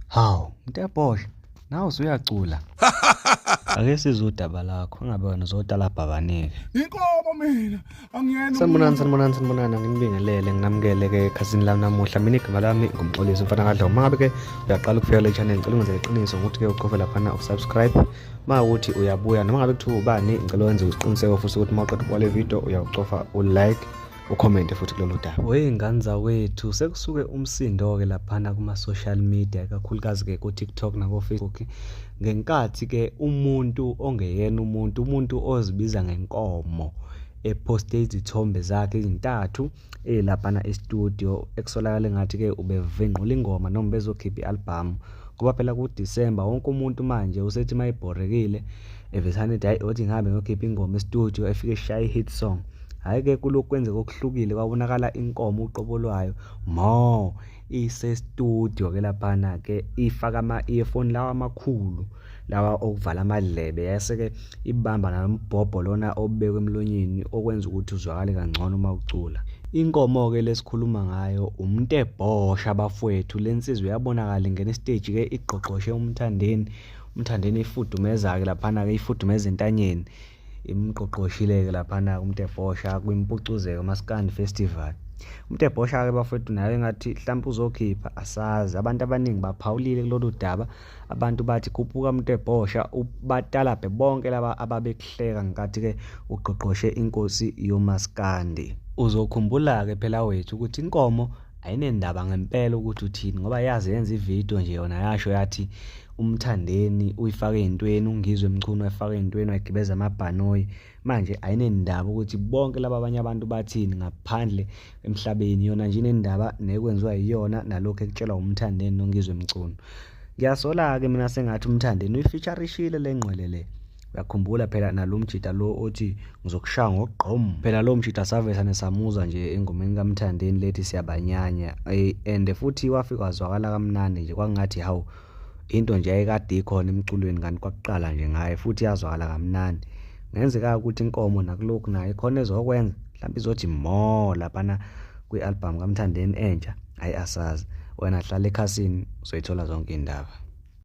Hawu, mtebhohle, nawe usuyacula. Ake sizwe udaba lakho, ingabe wena uzotalabha abaningi. Inkomo mina, angiyena. Sanibonani, sanibonani, sanibonani, nginibingelele, nginamukele ke ekhasini lami namuhla. Mina igama lami ngumxolisi mfana kaDlawu. Mangabe ke uyaqala ukufika le channel, ngicela ungenze iqiniso ngokuthi ke uqofe lapha na usubscribe. Mawuthi uyabuya noma ngabe kuthiwa ubani, ngicela wenze isiqiniseko futhi ukuthi mawuqeda ukubona le video uyawucofa u like. ukhomente futhi kulolu daba weyi ngane zawethu sekusuke umsindo-ke laphana kuma-social media kakhulukazi-ke ku-tiktok nako-facebook ngenkathi-ke umuntu ongeyena umuntu umuntu ozibiza ngenkomo ephoste izithombe zakhe ezintathu elaphana estudio ekusolakala engathi-ke ubevingqula ingoma noma bezokhipha i-albhamu ngoba phela kudisemba wonke umuntu manje usethi uma ebhorekile evesane ethi hayi othi ngihambe ngiyokhipha ingoma estudio efike eshaye i-hit song hhayi-ke kulokhu kwenzeka okuhlukile kwabonakala inkomo uqobo lwayo mo isestudio ke laphana-ke ifaka ama-earphone lawa amakhulu lawa okuvala amadlebe yase-ke ibamba nalo mbhobho lona obekwe emlonyeni okwenza ukuthi uzwakale kangcono uma ucula Inkomo-ke lesikhuluma ngayo uMntebhosha bafwethu le nsizwa iyabonakala ingena isiteji-ke igqogqoshe uMthandeni umthandeni ifudumezayo laphana ke ifudumeza entanyeni imqoqoshileke laphana umtebhosha kwimpucuzeko maskandi festival umtebhosha ke bafethu naye ngathi mhlawumbe uzokhipha asazi abantu abaningi baphawulile kulolu daba abantu bathi khuphuka umtebhosha batalabhe bonke laba ababekuhleka ngenkathi ke ugqogqoshe inkosi yomaskandi uzokhumbula ke phela wethu ukuthi inkomo ayinendaba ngempela ukuthi uthini ngoba yazi yenza ividiyo nje yona yasho yathi umthandeni uyifake ey'ntweni ungizwe mchunu wayifaka ey'ntweni wayigibeza amabhanoyi manje ayinendaba ukuthi bonke laba abanye abantu bathini ngaphandle emhlabeni yona nje inendaba nekwenziwa yiyona nalokhu ekutshelwa umthandeni nongizwe mchunu ngiyasola-ke mina sengathi umthandeni uyifeaturishile le ngqwele le uyakhumbula phela nalomjita lo othi ngizokushaya ngokugqom phela lo mjita savesane samuza nje engomeni kamthandeni lethi siyabanyanya eh, and futhi wafika wazwakala kamnandi nje kwangathi hawu into nje ayekade ikhona emculweni kanti kwakuqala nje ngaye futhi yazwakala kamnandi ngenzeka ukuthi inkomo nakulokhu naye khona ezokwenza mhlawumbe izothi mo laphana kwi-album kamthandeni entsha hhayi asazi wena hlala ekhasini uzoyithola zonke iy'ndaba